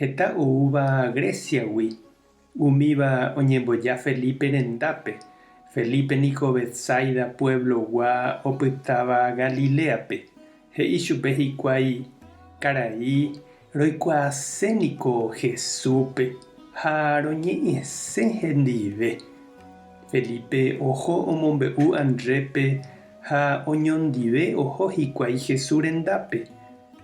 Heta oúva Gréciagui, umíva oñemboja Felipe rendápe, Felipe niko Betsaida puévlogua opytáva Galiléape, he'i chupe hikuái, Karai, roikuaase niko Jesúspe ha roñe'ẽse hendive. Felipe oho omombe'u Andrépe ha oñondive oho hikuái Jesús rendápe.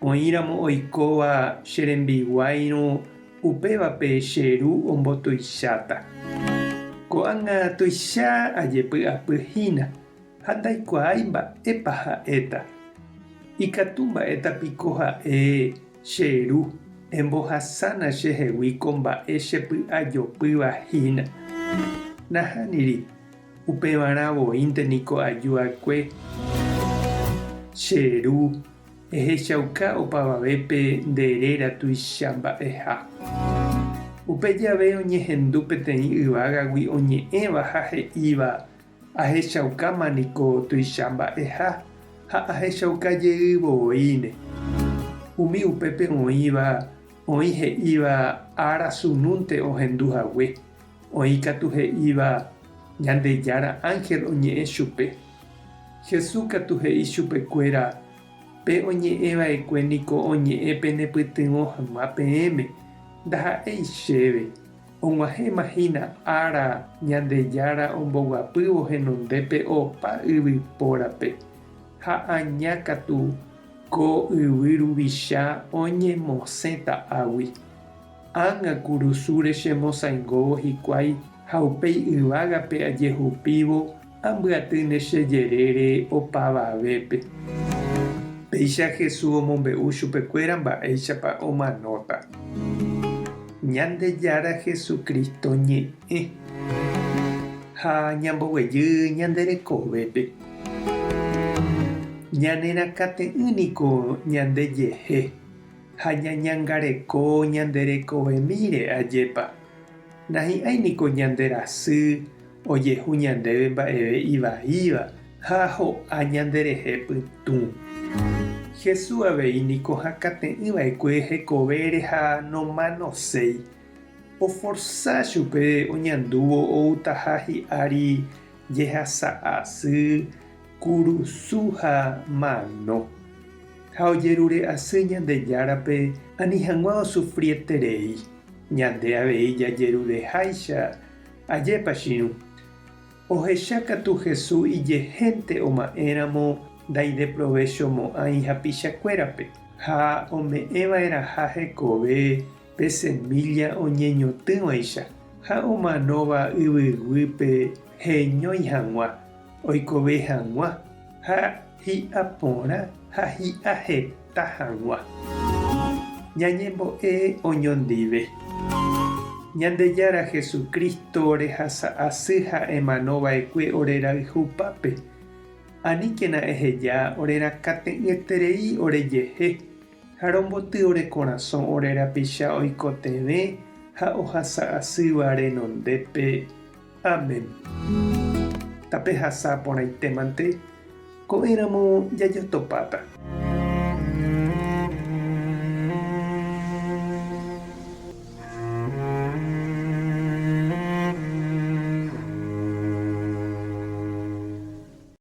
Oĩramo oikóva che rembiguáirõ upévape che ru ombotuicháta. Ko'ág̃a tuicha ajepy'apy hína ha ndaikuaái mba'épa ha'éta. Ikatu mba'éta piko ha'e che ru embohasána chehegui ko mba'e chepy'ajopýva hína? Nahániri, upevarã voínte niko aju'akue che ru. Ehechauka opavavépe nde réra tuicha mba'eha. Upe jave oñehendu peteĩ yvágagui oñe'ẽva ha he'íva, Ahechaukáma niko tuicha mba'eha ha ahechauka jey vovoíne. Umi upépe oĩva oĩ he'íva ára sunúnte ohendu hague, oĩ katu he'íva Ñandejára ánhel oñe'ẽ chupe. Jesús katu he'i chupekuéra, Pe oñe'ẽ va'ekue niko oñe'ẽ penepytyvõ hag̃ua peẽme, ndaha'éi chéve. Og̃uahẽma hína ára Ñandejára omboguapývo henondépe opa yvypórape, ha aña katu ko yvy ruvicha oñemosẽta águi. Ág̃a kurusúre chemosãingóvo hikuái ha upéi yvágape ajehupívo Ambyatýne che jerére opavavépe. Péicha Jesús omombe'u chupekuéra mba'éichapa omanóta Ñandejára Jesucristo ñe'ẽ ha ñamboguejy ñande rekovépe. Ñanerakãte'ỹ niko ñandejehe ha ñañangareko ñande rekovemíre, ajépa, nahi'ãi niko ñande rasy, Ojehu ñandéve mba'eve ivaíva ha ho'a ñanderehe pytũ. Jesús avei niko hakãte'ỹ va'ekue hekovére ha nomanoséi. Oforsa chupe oñandúvo outaha hi'ári jehasa asy, kurusu ha mano. Ha ojerure asy Ñandejárape ani hag̃ua osufrieterei, ñande avei jajerureháicha. Ajépa chiru! Ohecha katu Hesu ijehénte oma'ẽramo ndaideprovechomo'ãi hapichakuérape, ha ome'ẽva'erãha hekove pe semílla oñeñotỹvaicha ha omanóva yvyguýpe heñói hag̃ua, oikove hag̃ua, ha Hi'a porã ha hi'a heta hag̃ua. Ñañembo'e oñondive. Ñandejára Jesucristo orehasa asy ha emano vaekue ore rayhupápe. Aníkena eheja orerakãte'ỹeterei ore jehe. Ha romboty ore korasõ ore rapicha oikotevẽ ha ohasa asýva renondépe. Amén. Tapehasa porãitémante, ko'ẽramo jajotopáta.